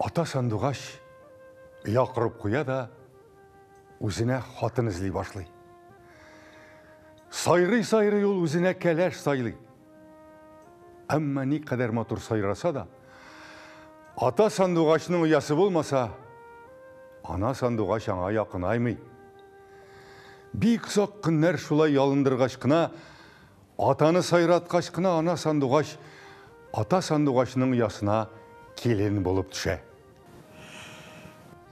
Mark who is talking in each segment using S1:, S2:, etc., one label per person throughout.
S1: Ата сандугач оя корып куя да үзенә хатын эзли башлый. Сайрый-сайрый ул үзенә кәләш сайлый. Әмма ни кадәр матур сайраса да, ата сандугачның оясы булмаса, ана сандугач аңа якынаймый. Бик озак көннәр шулай ялындыргач кына Атаны сайраткач кына ана сандугач ата сандугачның оясына килен булып төшә.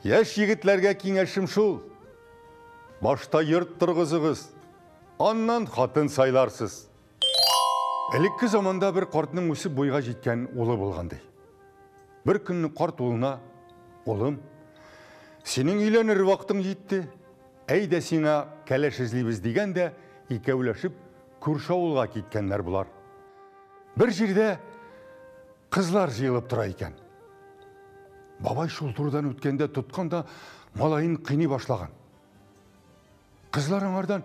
S1: Яшь егетләргә киңәшем шул, башта йорт торгызыгыз, аннан хатын сайларсыз. Элекке заманда бер картның үсеп буйга җиткән улы булган ди. Бер көнне карт улына, Улым, синең өйләнер вакытың җитте. Әйдә сиңа кәләш эзлибез дигән дә икәүләшеп күрше авылга киткәннәр болар. Бер җирдә кызлар җыелып тора икән. Бабай шул турыдан үткәндә тоткан да малаен кыйный башлаган. Кызлар аңардан,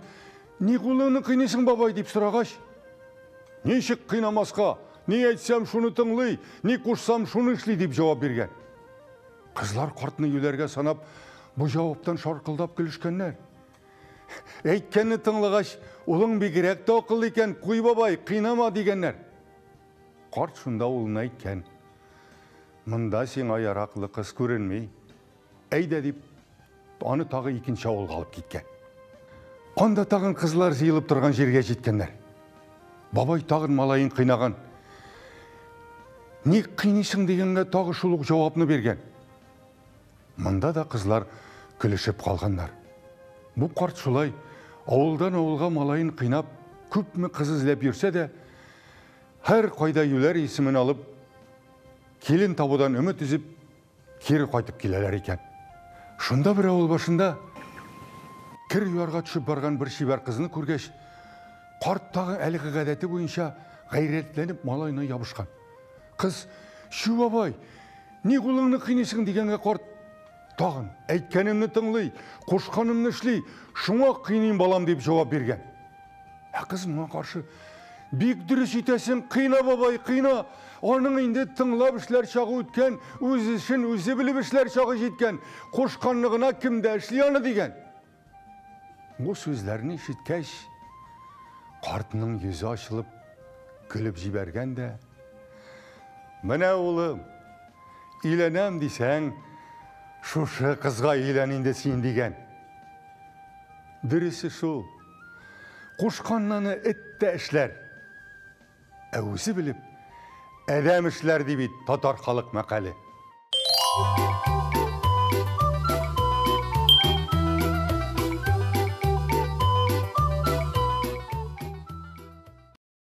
S1: ни кулыңны кыйныйсың, бабай, дип сорагач, ничек кыйнамаска, ни әйтсәм, шуны тыңлый, ни кушсам, шуны эшли, дип җавап биргән. Кызлар картны юләргә санап, бу җаваптан шаркылдап көлешкәннәр. Әйткәнне тыңлагач, улың бигрәк тә акыллы икән, куй бабай, кыйнама дигәннәр. Карт шунда улына әйткән. Монда сиңа яраклы кыз күренми. Әйдә дип, Аны тагы икенче авылга алып киткән. Анда тагын кызлар җыелып торган җиргә җиткәннәр. Бабай тагын малаен кыйнаган. Ник кыйныйсың дигәнгә тагы шул ук җавапны биргән. Монда да кызлар көлешеп калганнар. Бу карт шулай авылдан авылга малаен кыйнап, күпме кыз эзләп йөрсә дә, һәр кайда юләр исемен алып, килен табудан өмет өзеп, Кире кайтып киләләр икән. Шунда бер авыл башында кер юарга төшеп барган бер чибәр кызны күргәч, карт тагы әлеге гадәте буенча гайрәтләнеп малаена ябышкан. Кыз, Чү, бабай, ни кулыңны кыйныйсың, дигәнгә карт тагын, Әйткәнемне тыңлый, кушканымны эшли, шуңа кыйныйм, балам, дип җавап биргән. Ә кыз моңа каршы, Бик дөрес итәсең, кыйна бабай, кыйна. Аның инде тыңлап эшләр чагы үткән, үз эшен үзе белеп эшләр чагы җиткән. Кушканны гына кем дә эшли аны дигән. Бу сүзләрне ишеткәч, картның йөзе ачылып, көлеп җибәргән дә. Менә улым, өйләнәм дисәң, шушы кызга өйлән инде син дигән. Дөресе шул. Кушканнаны эт тә эшләр. Ә үзе белеп, әдәм эшләр, ди бит татар халык мәкале.